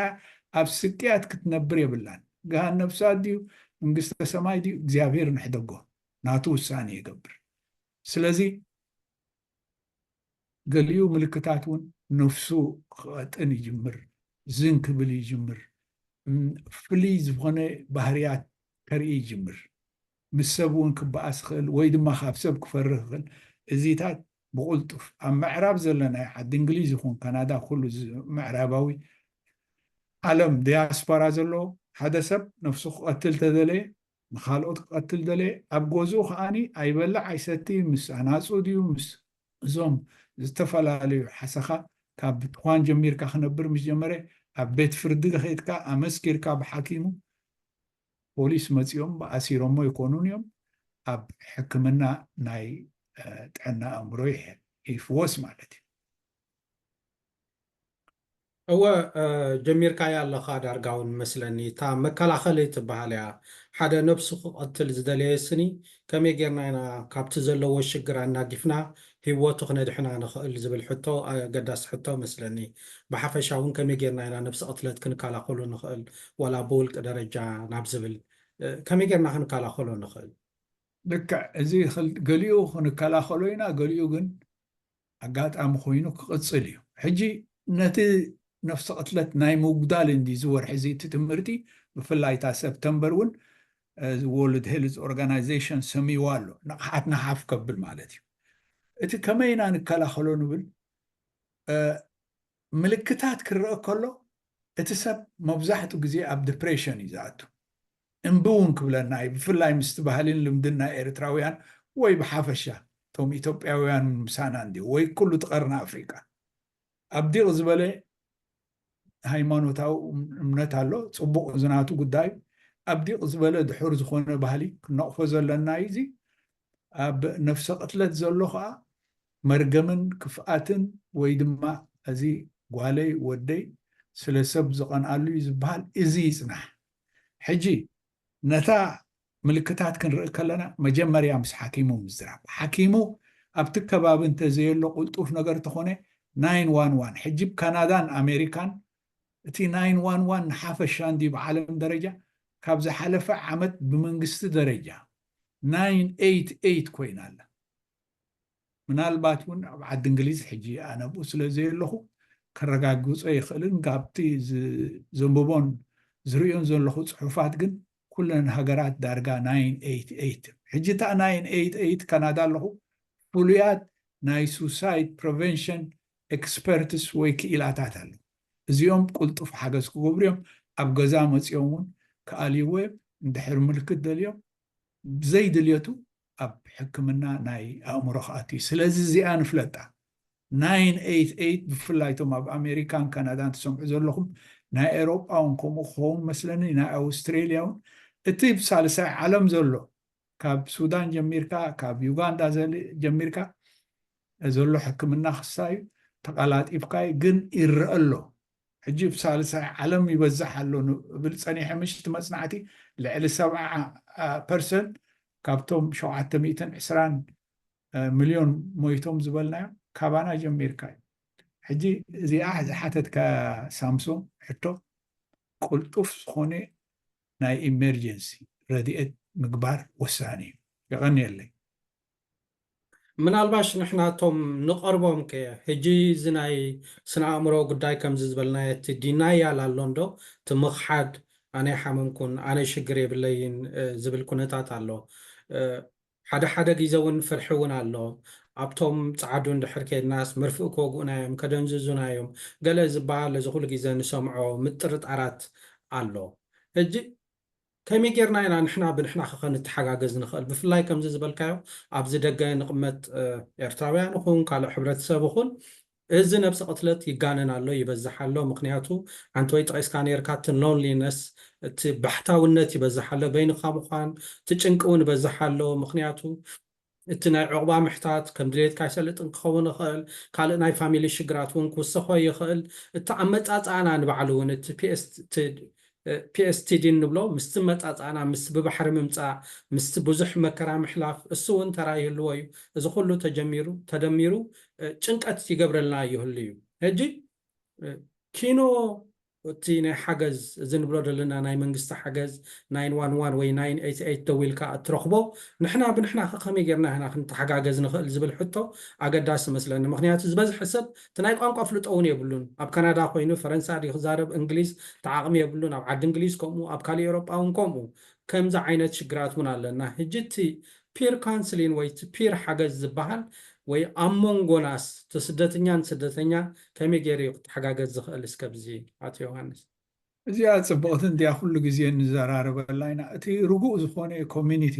Speaker 2: ኣብ ስቅያት ክትነብር የብላን ገሃን ነፍሳት ድዩ መንግስተ ሰማይ ድዩ እግዚኣብሔር ንሕደጎ ናቱ ውሳኔ ይገብር ስለዚ ገሊኡ ምልክታት እውን ነፍሱ ክቐጥን ይጅምር፣ ዝን ክብል ይጅምር፣ ፍልይ ዝኾነ ባህርያት ከርኢ ይጅምር፣ ምስ ሰብ እውን ክበኣስ ይኽእል ወይ ድማ ካብ ሰብ ክፈርህ ይኽእል። እዚታት ብቕልጡፍ ኣብ ምዕራብ ዘለናዮ ዓዲ እንግሊዝ ይኹን ካናዳ ኩሉ ምዕራባዊ ዓለም ዲያስፖራ ዘሎ ሓደ ሰብ ነፍሱ ክቐትል ተደለየ ንኻልኦት ክቐትል ደለየ፣ ኣብ ገዝኡ ከኣ ኣይበልዕ ኣይሰቲ፣ ምስ ኣናጹ ድዩ ምስ እዞም ዝተፈላለዩ ሓሰኻ ካብ ትኳን ጀሚርካ ክነብር ምስ ጀመረ፣ ኣብ ቤት ፍርዲ ኸይድካ ኣመስኪርካ ብሓኪሙ ፖሊስ መጺኦም ኣሲሮሞ ይኮኑን እዮም፣ ኣብ ሕክምና ናይ ጥዕና ኣእምሮ ይሕወስ ማለት እዩ።
Speaker 1: እወ ጀሚርካያ ኣለኻ ዳርጋውን መስለኒ እታ መከላኸሊ ትበሃል እያ ሓደ ነብሱ ክቐትል ዝደለየ ስኒ ከመይ ጌርና ኢና ካብቲ ዘለዎ ሽግር ኣናጊፍና ሂወቱ ክነድሕና ንኽእል ዝብል ሕቶ ኣገዳሲ ሕቶ መስለኒ ብሓፈሻ ውን ከመይ ጌርና ኢና ነብሲ ቕትለት ክንከላኸሎ ንኽእል ዋላ ብውልቂ ደረጃ ናብ ዝብል ከመይ ጌርና ክንከላኸሎ ንኽእል። ልክዕ
Speaker 2: እዚ ገሊኡ ክንከላኸሎ ኢና ገሊኡ ግን ኣጋጣሚ ኮይኑ ክቕጽል እዩ። ሕጂ ነቲ ነፍሰ ቅትለት ናይ ምጉዳል እንድዩ እዚ ወርሒ እዚ እቲ ትምህርቲ ብፍላይ እታ ሰፕተምበር እውን ወርልድ ሄልዝ ኦርጋናይዜሽን ሰምይዋ ኣሎ ንቕሓትና ሓፍ ከብል ማለት እዩ እቲ ከመይ ኢና ንከላኸሎ ንብል ምልክታት ክረኣ ከሎ እቲ ሰብ መብዛሕቱ ግዜ ኣብ ድፕሬሽን እዩ ዝኣቱ እምቢ ውን ክብለና እዩ ብፍላይ ምስቲ ባህሊን ልምድን ናይ ኤርትራውያን ወይ ብሓፈሻ እቶም ኢትዮጵያውያን ውን ምሳና እንድዩ ወይ ኩሉ እቲ ቀርኒ ኣፍሪቃ ኣብ ዲቕ ዝበለ ሃይማኖታዊ እምነት ኣሎ ጽቡቕ እዚ ናቱ ጉዳይ ኣብ ዲቕ ዝበለ ድሑር ዝኾነ ባህሊ ክንነቕፎ ዘለና እዩ እዚ ኣብ ነፍሰ ቅትለት ዘሎ ከኣ መርገምን ክፍኣትን ወይ ድማ እዚ ጓለይ ወደይ ስለ ሰብ ዝቐንኣሉ እዩ ዝብሃል እዚ ይጽናሕ ሕጂ ነታ ምልክታት ክንርኢ ከለና መጀመርያ ምስ ሓኪሙ ምዝራብ ሓኪሙ ኣብቲ ከባቢ እንተዘየሎ ቁልጡፍ ነገር ተኾነ ናይን ዋን ዋን ሕጂ ብ ካናዳን ኣሜሪካን እቲ ናይን ዋን ዋን ንሓፈሻ እንድዩ ብዓለም ደረጃ ካብ ዝሓለፈ ዓመት ብመንግስቲ ደረጃ 988 ኮይና ኣላ። ምናልባት እውን ኣብ ዓዲ እንግሊዝ ሕጂ ኣነ ኣብኡ ስለ ዘየለኹ ከረጋግጾ ኣይኽእልን ካብቲ ዘንብቦን ዝርእዮን ዘለኹ ጽሑፋት ግን ኩለን ሃገራት ዳርጋ 988 ሕጂ እታ 988 ካናዳ ኣለኹ ፍሉያት ናይ ሱሳይድ ፕሪቨንሽን ኤክስፐርትስ ወይ ክኢላታት ኣለዉ እዚኦም ቅልጡፍ ሓገዝ ክገብሩ እዮም፣ ኣብ ገዛ መጺኦም እውን ክኣልይዎ እዮም፣ እንድሕር ምልክት ደልዮም ብዘይ ድልየቱ ኣብ ሕክምና ናይ ኣእምሮ ክኣቱ እዩ፣ ስለዚ እዚኣ ንፍለጣ። ናይን ኤይት ኤይት ብፍላይ እቶም ኣብ ኣሜሪካን ካናዳን ትሰምዑ ዘለኹም ናይ ኤሮጳ እውን ከምኡ ክኸውን መስለኒ ናይ ኣውስትሬልያ እውን እቲ ብ ሳልሳይ ዓለም ዘሎ ካብ ሱዳን ጀሚርካ ካብ ዩጋንዳ ጀሚርካ ዘሎ ሕክምና ክሳዩ ተቃላጢፍካዩ ግን ይረኣ ኣሎ ሕጂ እብ ሳልሳይ ዓለም ይበዝሕ ኣሎ እብል ጸኒሐ ምሽት መጽናዕቲ ልዕሊ ሰብዓ ፐርሰን ካብቶም ሸውዓተ ሚእትን ዕስራን ሚልዮን ሞይቶም ዝበልናዮም ካባና ጀሚርካ እዩ ሕጂ እዚኣ ዝሓተትካ ሳምሶም ሕቶ ቅልጡፍ ዝኾነ ናይ ኢመርጀንሲ ረድኤት ምግባር ወሳኒ እዩ የቐንየለይ
Speaker 3: ምናልባሽ ንሕና እቶም ንቐርቦም ከ ሕጂ እዚ ናይ ስነ ኣእምሮ ጉዳይ ከምዚ ዝበልናዮ እቲ ዲናያል ኣሎ እንዶ እቲ ምኽሓድ ኣነ ኣይሓመምኩን ኣነ ሽግር የብለይን ዝብል ኩነታት ኣሎ ሓደ ሓደ ጊዘ ውን ፍርሒ ውን ኣሎ ኣብቶም ጸዓዱ እንድሕር ኬድናስ መርፍእ ክወግኡና እዮም ከደንዝዙና እዮም ገለ ዝበሃል እዚ ኩሉ ጊዘ ንሰምዖ ምጥርጣራት ኣሎ ሕጂ ከመይ ጌርና ኢና ንሕና ብንሕና ከከንተሓጋገዝ ንኽእል? ብፍላይ ከምዚ ዝበልካዮ ኣብዚ ደገ ንቕመጥ ኤርትራውያን እኹን ካልእ ሕብረተሰብ እኹን እዚ ነብሰ ቅትለት ይጋነን ኣሎ ይበዝሕ ኣሎ ምኽንያቱ ሓንቲ ወይ ጠቒስካ ኔርካ እቲ loneliness እቲ ባሕታውነት ይበዝሕ ኣሎ በይንኻ ምዃን እቲ ጭንቂ ውን ይበዝሕ ኣሎ ምኽንያቱ እቲ ናይ ዑቕባ ምሕታት ከም ድሌትካ ኣይሰልጥን ክኸውን ይኽእል፣ ካልእ ናይ ፋሚሊ ሽግራት እውን ክውሰኾ ይኽእል። እቲ ኣመጻጽኣና ንባዕሉ እውን እቲ PSTD እንብሎ ምስቲ ኣመጻጽኣና ምስቲ ብባሕሪ ምምጻእ ምስቲ ብዙሕ መከራ ምሕላፍ እሱ እውን ተራ ይህልዎ እዩ። እዚ ኩሉ ተጀሚሩ ተደሚሩ ጭንቀት ይገብረልና ይህሉ እዩ። ሕጂ ኪኖ እቲ ናይ ሓገዝ እዚ ንብሎ ዘለና ናይ መንግስቲ ሓገዝ ናይን ዋን ዋን ወይ ናይን ኤይት ኤይት ደዊልካ እትረኽቦ ንሕና ብንሕና ከ ከመይ ጌርና ኢና ክንተሓጋገዝ ንኽእል ዝብል ሕቶ ኣገዳሲ መስለኒ ምኽንያቱ ዝበዝሐ ሰብ እቲ ናይ ቋንቋ ፍልጦ እውን የብሉን ኣብ ካናዳ ኮይኑ ፈረንሳ ድዩ ክዛረብ እንግሊዝ እቲ ዓቕሚ የብሉን ኣብ ዓዲ እንግሊዝ ከምኡ ኣብ ካልእ ኤውሮጳ እውን ከምኡ ከምዚ ዓይነት ሽግራት እውን ኣለና ሕጂ እቲ ፒር ካንስሊን ወይ እቲ ፒር ሓገዝ ዝበሃል ወይ ኣብ ሞንጎናስ እቲ ስደትኛን ስደተኛ ከመይ ገይሩ እዩ ክተሓጋገዝ ዝኽእል እስከ ብዚ ኣቶ ዮሃንስ። እዚኣ
Speaker 2: ጽብቕቲ እንድያ ኩሉ ግዜ ንዘራረበላ ኢና እቲ ርጉእ ዝኾነ ኮሚኒቲ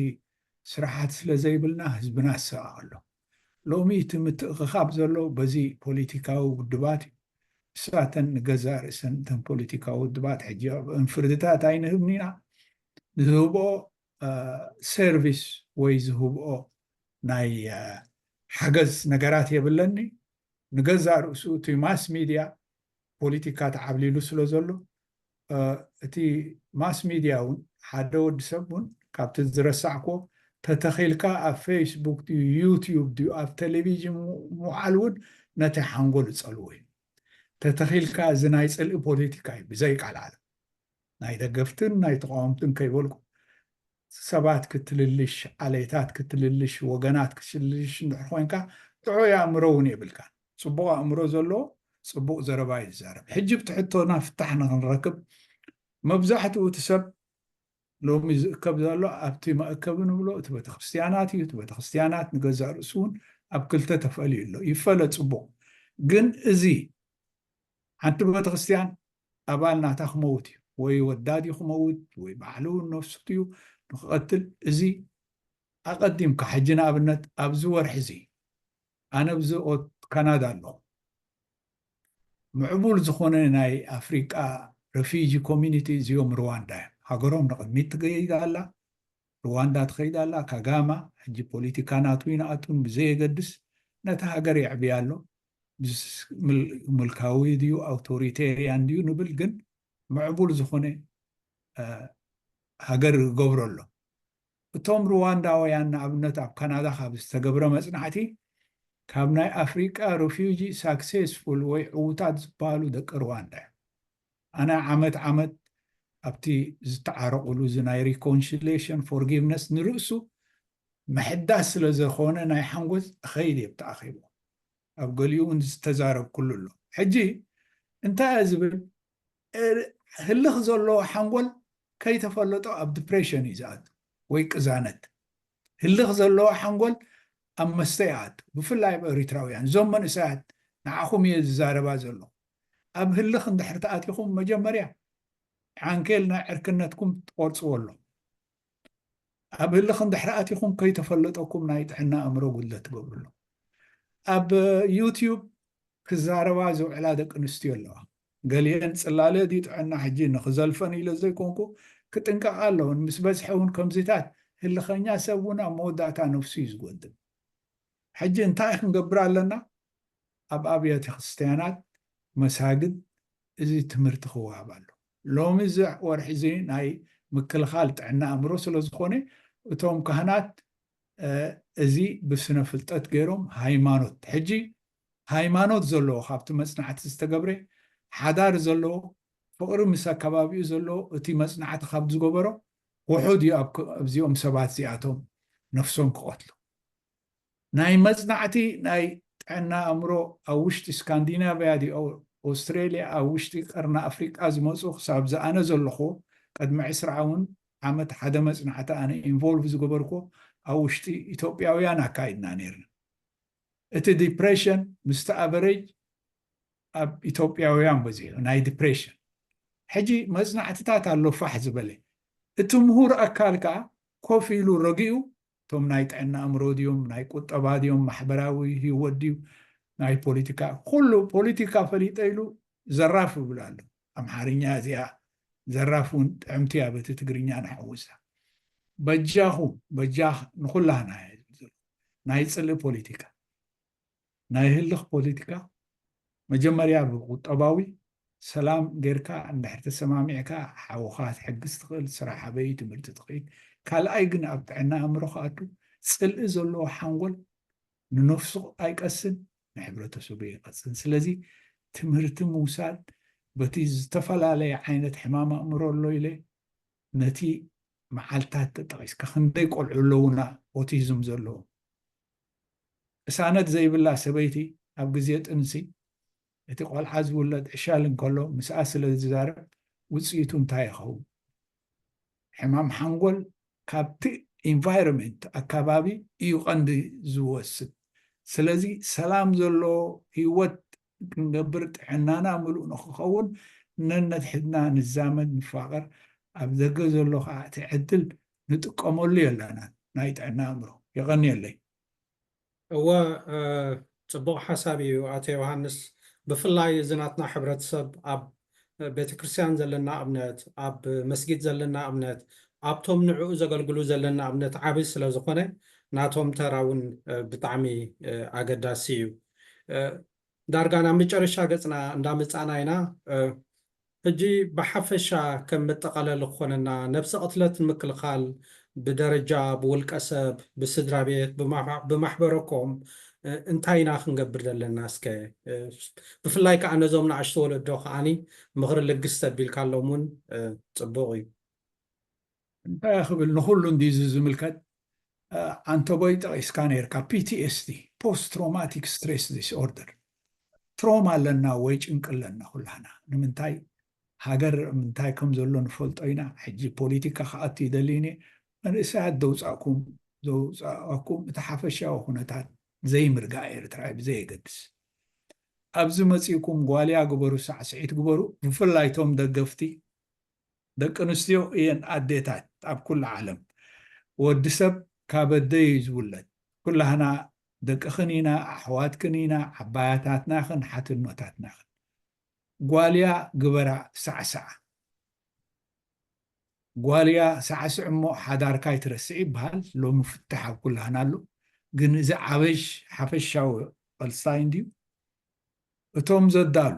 Speaker 2: ስራሓት ስለ ዘይብልና ህዝብና ይሳቐ ኣሎ ሎሚ እቲ ምትእኽኻብ ዘሎ በዚ ፖሊቲካዊ ውድባት እዩ ንሳተን ንገዛእ ርእሰን እተን ፖሊቲካዊ ውድባት ሕጂ ኣብ እንፍርድታት ኣይንህብን ኢና ንዝህብኦ ሰርቪስ ወይ ዝህብኦ ናይ ሓገዝ ነገራት የብለኒ ንገዛእ ርእሱ እቲ ማስ ሚድያ ፖለቲካ ተዓብሊሉ ስለ ዘሎ እቲ ማስ ሚድያ እውን ሓደ ወዲ ሰብ እውን ካብቲ ዝረሳዕክዎ ተተኺልካ ኣብ ፌስቡክ ድዩ ዩትዩብ ድዩ ኣብ ቴሌቪዥን ምውዓል እውን ነቲ ሓንጎል ዝፀልዎ እዩ ተተኺልካ እዚ ናይ ፅልኢ ፖለቲካ እዩ ብዘይቃልዓለም ናይ ደገፍትን ናይ ተቓወምትን ከይበልኩ ሰባት ክትልልሽ፣ ዓሌታት ክትልልሽ፣ ወገናት ክትልልሽ እንድሕር ኮይንካ ጥዑይ ኣእምሮ እውን የብልካን። ጽቡቕ ኣእምሮ ዘለዎ ጽቡቕ ዘረባ እዩ ዝዛረብ። ሕጂ ብቲ ሕቶና ፍታሕ ንኽንረክብ መብዛሕትኡ እቲ ሰብ ሎሚ ዝእከብ ዘሎ ኣብቲ መእከቢ ንብሎ እቲ ቤተክርስትያናት እዩ። እቲ ቤተክርስትያናት ንገዛእ ርእሱ እውን ኣብ ክልተ ተፈልዩ ኣሎ። ይፈለ ጽቡቕ ግን እዚ ሓንቲ በተክርስትያን ኣባል ናታ ክመውት እዩ ወይ ወዳ ድዩ ክመውት ወይ ባዕሉ ነፍሱ ድዩ ንክቐትል እዚ ኣቐዲምካ ሕጂ ንኣብነት ኣብዚ ወርሒ እዚ ኣነ ብዚ ካናዳ ኣለኹ ምዕቡል ዝኾነ ናይ ኣፍሪቃ ረፊጂ ኮሚኒቲ እዚኦም ሩዋንዳ እዮም ሃገሮም ንቕድሚት ትገይድ ኣላ ርዋንዳ ትኸይድ ኣላ ካጋማ ሕጂ ፖሊቲካ ናቱ ይንኣቱን ብዘየገድስ ነታ ሃገር የዕብያ ኣሎ ምልካዊ ድዩ ኣውቶሪቴርያን ድዩ ንብል ግን ምዕቡል ዝኾነ ሃገር ይገብሮ ኣሎ እቶም ርዋንዳውያን ንኣብነት ኣብ ካናዳ ካብ ዝተገብረ መጽናዕቲ ካብ ናይ ኣፍሪቃ ሩፊጂ ሳክሴስፉል ወይ ዕውታት ዝበሃሉ ደቂ ርዋንዳ እዮም ኣነ ዓመት ዓመት ኣብቲ ዝተዓረቑሉ እዚ ናይ ሪኮንሽሌሽን ፎርጊቭነስ ንርእሱ ምሕዳስ ስለ ዘኾነ ናይ ሓንጎፅ እኸይድ እየ ኣብቲ ኣኼቦ ኣብ ገሊኡ እውን ዝተዛረብኩሉ ኣሎ ሕጂ እንታይ እየ ዝብል ህልኽ ዘለዎ ሓንጎል ከይተፈለጦ ኣብ ዲፕሬሽን እዩ ዝኣቱ ወይ ቅዛነት ህልኽ ዘለዎ ሓንጎል ኣብ መስተ ይኣቱ ብፍላይ ኣብ ኤሪትራውያን እዞም መንእሰያት ንዓኹም እየ ዝዛረባ ዘሎ ኣብ ህልኽ እንድሕር ተኣቲኹም መጀመርያ ዓንኬል ናይ ዕርክነትኩም ትቆርጽዎ ኣሎኹም። ኣብ ህልኽ እንድሕር ኣቲኹም ከይተፈለጠኩም ናይ ጥዕና ኣእምሮ ጉድለት ትገብሩ ኣሎኹም። ኣብ ዩትዩብ ክዛረባ ዝውዕላ ደቂ ኣንስትዮ ኣለዋ። ገሊኤን ጽላለ ድዩ ጥዕና ሕጂ ንኽዘልፈን ኢለ ዘይኮንኩ ክጥንቀቓ ኣለወን። ምስ በዝሐ እውን ከምዚታት ህልኸኛ ሰብ እውን ኣብ መወዳእታ ነፍሱ እዩ ዝጎድል። ሕጂ እንታይ ክንገብር ኣለና? ኣብ ኣብያተ ክርስትያናት፣ መሳግድ፣ እዚ ትምህርቲ ክወሃብ ኣሎ። ሎሚ እዚ ወርሒ እዚ ናይ ምክልኻል ጥዕና ኣእምሮ ስለ ዝኾነ እቶም ካህናት እዚ ብስነ ፍልጠት ገይሮም ሃይማኖት ሕጂ ሃይማኖት ዘለዎ ካብቲ መጽናዕቲ ዝተገብረ ሓዳር ዘለዎ ፍቕሪ ምስ ኣከባቢኡ ዘለዎ እቲ መጽናዕቲ ካብ ዝገበሮ ውሑድ እዩ ኣብዚኦም ሰባት እዚኣቶም ነፍሶም ክቐትሉ ናይ መጽናዕቲ ናይ ጥዕና ኣእምሮ ኣብ ውሽጢ ስካንዲናቭያ ዲዩ ኣውስትራልያ ኣብ ውሽጢ ቀርኒ ኣፍሪቃ ዝመጹ ክሳብ ዝኣነ ዘለክዎ ቅድሚ ዕስራ ውን ዓመት ሓደ መጽናዕቲ ኣነ ኢንቮልቭ ዝገበርክዎ ኣብ ውሽጢ ኢትዮጵያውያን ኣካይድና ኔርና እቲ ዲፕሬሽን ምስቲ ኣቨሬጅ ኣብ ኢትዮጵያውያን በዚሑ ናይ ዲፕሬሽን ሕጂ መጽናዕትታት ኣሎ ፋሕ ዝበለ እቲ ምሁር ኣካል ከኣ ኮፍ ኢሉ ረጊኡ እቶም ናይ ጥዕና ኣእምሮ ድዮም ናይ ቁጠባ ድዮም ማሕበራዊ ህይወት ድዩ ናይ ፖለቲካ ኩሉ ፖለቲካ ፈሊጠ ኢሉ ዘራፍ ይብል ኣሎ ኣምሓርኛ እዚኣ ዘራፍ እውን ጥዕምቲ እያ በቲ ትግርኛ ንሓውሳ በጃኹም በጃ ንኩላህና እያ ዝብል ዘሎ ናይ ፅልኢ ፖለቲካ ናይ ህልኽ ፖሊቲካ መጀመርያ ብቁጠባዊ ሰላም ገርካ እንድሕር ተሰማሚዕካ ሓውኻ ክትሕግዝ ትኽእል ስራሕ ኣበይ እዩ ትምህርቲ ትኽኢል ካልኣይ ግን ኣብ ጥዕና ኣእምሮ ክኣቱ ጽልኢ ዘለዎ ሓንጎል ንነፍሱ ኣይቀስን ንሕብረተሰቡ ይቐጽን ስለዚ ትምህርቲ ምውሳድ በቲ ዝተፈላለየ ዓይነት ሕማም ኣእምሮ ኣሎ ኢለ ነቲ መዓልታት ተጠቒስካ ክንደይ ቆልዑ ኣለውና ኦቲዝም ዘለዎ ቅሳነት ዘይብላ ሰበይቲ ኣብ ግዜ ጥንሲ እቲ ቆልዓ ዝውለድ ዕሸል እንከሎ ምስኣ ስለ ዝዛረብ ውጽኢቱ እንታይ ይኸውን? ሕማም ሓንጎል ካብቲ Environment፣ ኣካባቢ፣ እዩ ቀንዲ ዝወስድ። ስለዚ ሰላም ዘለዎ ህይወት ክንገብር ጥዕናና ምሉእ ንኽኸውን ነነትሕትና ንዛመድ ንፋቐር ኣብ ደገ ዘሎ ከኣ እቲ ዕድል ንጥቀመሉ የለናን ናይ ጥዕና ኣእምሮ። የቐንየለይ።
Speaker 3: እወ ጽቡቕ ሓሳብ ኢዩ ኣቶ ዮሃንስ ብፍላይ እዚ ናትና ሕብረተሰብ ኣብ ቤተክርስትያን ዘለና እምነት ኣብ መስጊድ ዘለና እምነት ኣብቶም ንዕኡ ዘገልግሉ ዘለና እምነት ዓቢ ስለ ዝኾነ ናቶም ተራ ውን ብጣዕሚ ኣገዳሲ ኢዩ ዳርጋ ናብ መጨረሻ ገጽና እንዳ መጻእና ኢና ሕጂ ብሓፈሻ ከም መጠቃለሊ ክኾነና ነብሰ ቅትለት ንምክልኻል ብደረጃ ብውልቀ ሰብ ብስድራ ቤት ብማሕበረ ኮም እንታይ ኢና ክንገብር ዘለና እስከ ብፍላይ ከኣ ነዞም ንኣሽቱ ወለዶ ከኣ ምኽሪ ልግስ ተቢልካሎም ውን ጽቡቅ እዩ።
Speaker 2: እንታይ ክብል ንኹሉ እንድዩ እዚ ዝምልከት ዓንተቦይ ጠቒስካ ነይርካ ፒቲኤስዲ ፖስት ትሮማቲክ ስትሬስ ዲስኦርደር ትሮማ ኣለና ወይ ጭንቂ ኣለና ኩላህና ንምንታይ ሃገር ምንታይ ከም ዘሎ ንፈልጦ ኢና ሕጂ ፖለቲካ ክኣቱ ይደልዩኒ መንእሰያት ዘውፃእኩም ዘውፃእኩም እቲ ሓፈሻዊ ኩነታት ዘይምርጋእ ኤርትራ እዩ ብዘየገድስ ኣብዚ መፂእኩም ጓልያ ግበሩ ሳዕስዒት ግበሩ ብፍላይ እቶም ደገፍቲ ደቂ ኣንስትዮ እየን ኣዴታት ኣብ ኩሉ ዓለም። ወዲ ሰብ ካብ ኣደ እዩ ዝውለድ። ኩላህና ደቅኽን ኢና፣ ኣሕዋትክን ኢና፣ ዓባያታትና ኢኽን፣ ሓትኖታትና ኢኽን። ጓል እያ ግበራ ሳዕስዓ። ጓል እያ ሳዕስዒ እሞ ሓዳርካ ኣይትረስዒ ይበሃል። ሎሚ ፍታሕ ኣብ ኩላህና ኣሎ። ግን እዚ ዓበሽ ሓፈሻዊ ቐልስታ እንድዩ። እቶም ዘዳሉ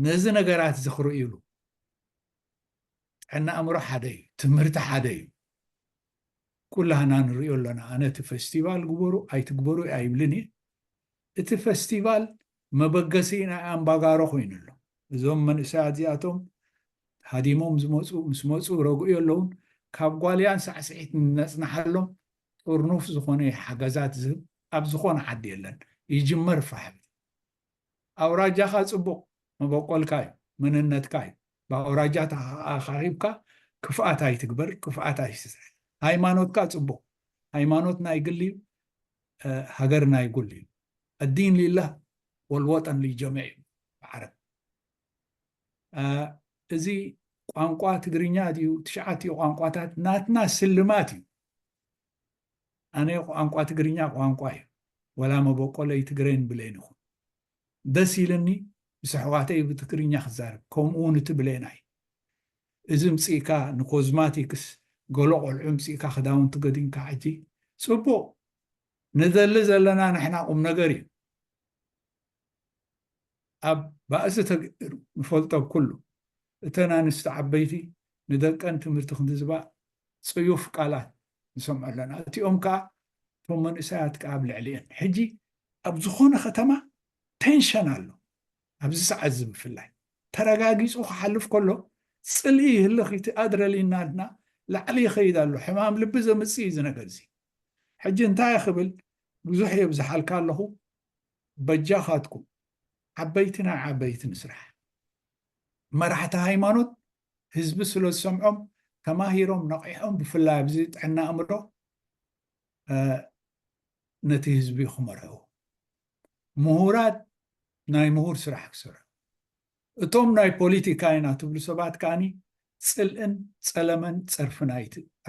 Speaker 2: ነዚ ነገራት እዚ ክርእዩሉ ጥዕና ኣእምሮ ሓደ እዩ፣ ትምህርቲ ሓደ እዩ። ኩላህና ንርእዮ ኣሎና። ኣነ እቲ ፈስቲቫል ግበሩ ኣይትግበሩ ኣይብልን እየ። እቲ ፈስቲቫል መበገሲ ናይ ኣምባጋሮ ኮይኑ ኣሎ። እዞም መንእሰያት እዚኣቶም ሃዲሞም ዝመፁ ምስ መፁ ረግኡ የለውን ካብ ጓልያን ሳዕስዒት ንነፅናሓሎም ጥርኑፍ ዝኾነ ሓገዛት ዝህብ ኣብ ዝኾነ ዓዲ የለን። ይጅመር ፋሕብቲ። ኣውራጃኻ ጽቡቕ መበቆልካ እዩ መንነትካ እዩ ብኣውራጃትካ ኣኻኺብካ ክፍኣት ኣይትግበር ክፍኣት ኣይትስራሕ ሃይማኖትካ ጽቡቕ ሃይማኖት ናይ ግሊ እዩ ሃገር ናይ ጉል እዩ ኣዲን ሊላህ ወልወጠን ሊጀሚዕ እዩ ብዓረብ እዚ ቋንቋ ትግርኛ ድዩ ትሽዓትኡ ቋንቋታት ናትና ስልማት እዩ ኣነ ቋንቋ ትግርኛ ቋንቋ እዩ ወላ መቦቆለይ ትግሬን ብሌን እኹን ደስ ኢልኒ ምስ ኣሕዋተይ ብትግርኛ ክዛረብ ከምኡ እውን እቲ ብሌናይ እዚ እምፅእካ ንኮዝማቲክስ ገሎ ቆልዑ እምፅእካ ክዳውንቲ ገዲምካ ሕጂ ፅቡቅ ንደሊ ዘለና ንሕና ቁምነገር እዩ። ኣብ ባእሲ ተገይሩ ንፈልጦ ብ ኩሉ እተን ኣንስቲ ዓበይቲ ንደቀን ትምህርቲ ክንዝባ ጽዩፍ ቃላት ንሰምዖ ኣለና እቲኦም ከኣ እቶም መንእሰያት ከኣ ኣብ ልዕሊኤን ሕጂ ኣብ ዝኾነ ከተማ ቴንሸን ኣሎ ኣብዚ ሰዓት እዚ ብፍላይ ተረጋጊጹ ክሓልፍ ከሎ ጽልኢ ይህልኽ እቲ ኣድረሊናልና ላዕሊ ይኸይድ ኣሎ ሕማም ልቢ ዘምጽእ እዩ እዚ ነገር እዚ ሕጂ እንታይ ክብል ብዙሕ የብዝሓልካ ኣለኹ በጃኻትኩም ዓበይቲ ናይ ዓበይቲ ንስራሕ። መራሕቲ ሃይማኖት ህዝቢ ስለ ዝሰምዖም ተማሂሮም ነቒሖም ብፍላይ ኣብዚ ጥዕና ኣእምሮ ነቲ ህዝቢ ክመርሕዎ ምሁራት ናይ ምሁር ስራሕ ክሰርሑ እቶም ናይ ፖሊቲካ ኢና ትብሉ ሰባት ከዓኒ ጽልእን ጸለመን ጸርፍን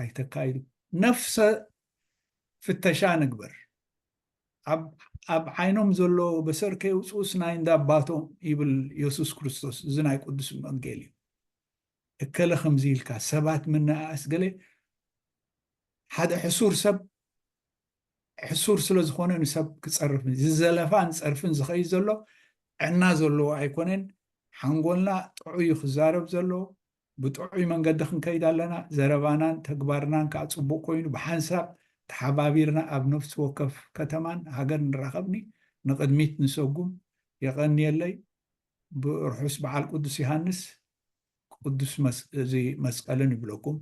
Speaker 2: ኣይተካይዱ ነፍሰ ፍተሻ ንግበር ኣብ ዓይኖም ዘሎ በሰር ከየውፅኡስ ናይ እንዳ ኣባቶም ይብል የሱስ ክርስቶስ እዚ ናይ ቅዱስ ወንጌል እዩ እከለ ከምዚ ኢልካ ሰባት ምንኣኣስ ገለ ሓደ ሕሱር ሰብ ሕሱር ስለ ዝኾነ ንሰብ ክፀርፍ ዝዘለፋን ፀርፍን ዝኸይድ ዘሎ ዕና ዘለዎ ኣይኮነን ሓንጎልና ጥዑይ ክዛረብ ዘለዎ ብጥዑይ መንገዲ ክንከይድ ኣለና፣ ዘረባናን ተግባርናን ከኣ ጽቡቕ ኮይኑ ብሓንሳብ ተሓባቢርና ኣብ ነፍሲ ወከፍ ከተማን ሃገር ንራኸብኒ ንቕድሚት ንሰጉም። የቐንየለይ። ርሑስ በዓል ቅዱስ ዮሃንስ ቅዱስ መስቀልን ይብለኩም።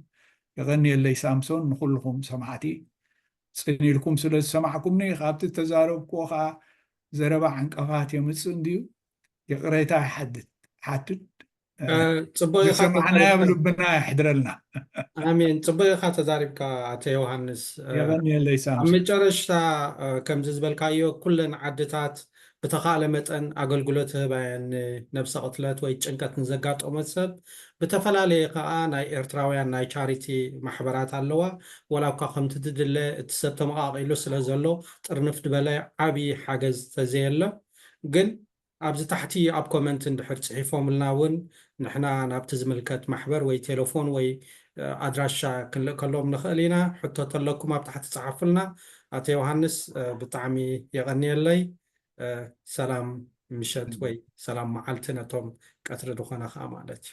Speaker 2: የቐንየለይ ሳምሶን ንኹልኹም ሰማዕቲ ጽን ኢልኩም ስለ ዝሰማዕኩምኒ ካብቲ ተዛረብክዎ ከዓ ዘረባ ዕንቀፋት የምጽእ እንድዩ ይቕሬታ ይሓትት ፅቡቅ ዝሰማዕናዮ ኣብ ልብና የሕድረልና ኣሜን
Speaker 3: ፅቡቅ ኢካ ተዛሪብካ ኣቶ ዮሃንስ የቀንየለይ ሳምሶን
Speaker 2: ኣብ መጨረሽታ
Speaker 3: ከምዚ ዝበልካዮ ኩለን ዓድታት ብተኻእለ መጠን ኣገልግሎት ይህባ እየን ንነብሰ ቅትለት ወይ ጭንቀት ንዘጋጠሞ ሰብ ብተፈላለየ ከኣ ናይ ኤርትራውያን ናይ ቻሪቲ ማሕበራት ኣለዋ ወላ እኳ ከምቲ ትድለ እቲ ሰብ ተመቃቂሉ ስለ ዘሎ ጥርንፍ ድበለ ዓቢ ሓገዝ ተዘየለ ግን ኣብዚ ታሕቲ ኣብ ኮመንት እንድሕር ጽሒፎምልና ውን ንሕና ናብቲ ዝምልከት ማሕበር ወይ ቴለፎን ወይ ኣድራሻ ክንልእከሎም ንኽእል ኢና። ሕቶ ተለኩም ኣብ ታሕቲ ጽሓፉልና። ኣቶ ዮሃንስ ብጣዕሚ የቐንየለይ። ሰላም ምሸት ወይ ሰላም መዓልቲ ነቶም ቀትሪ ድኾነ ከኣ ማለት እዩ።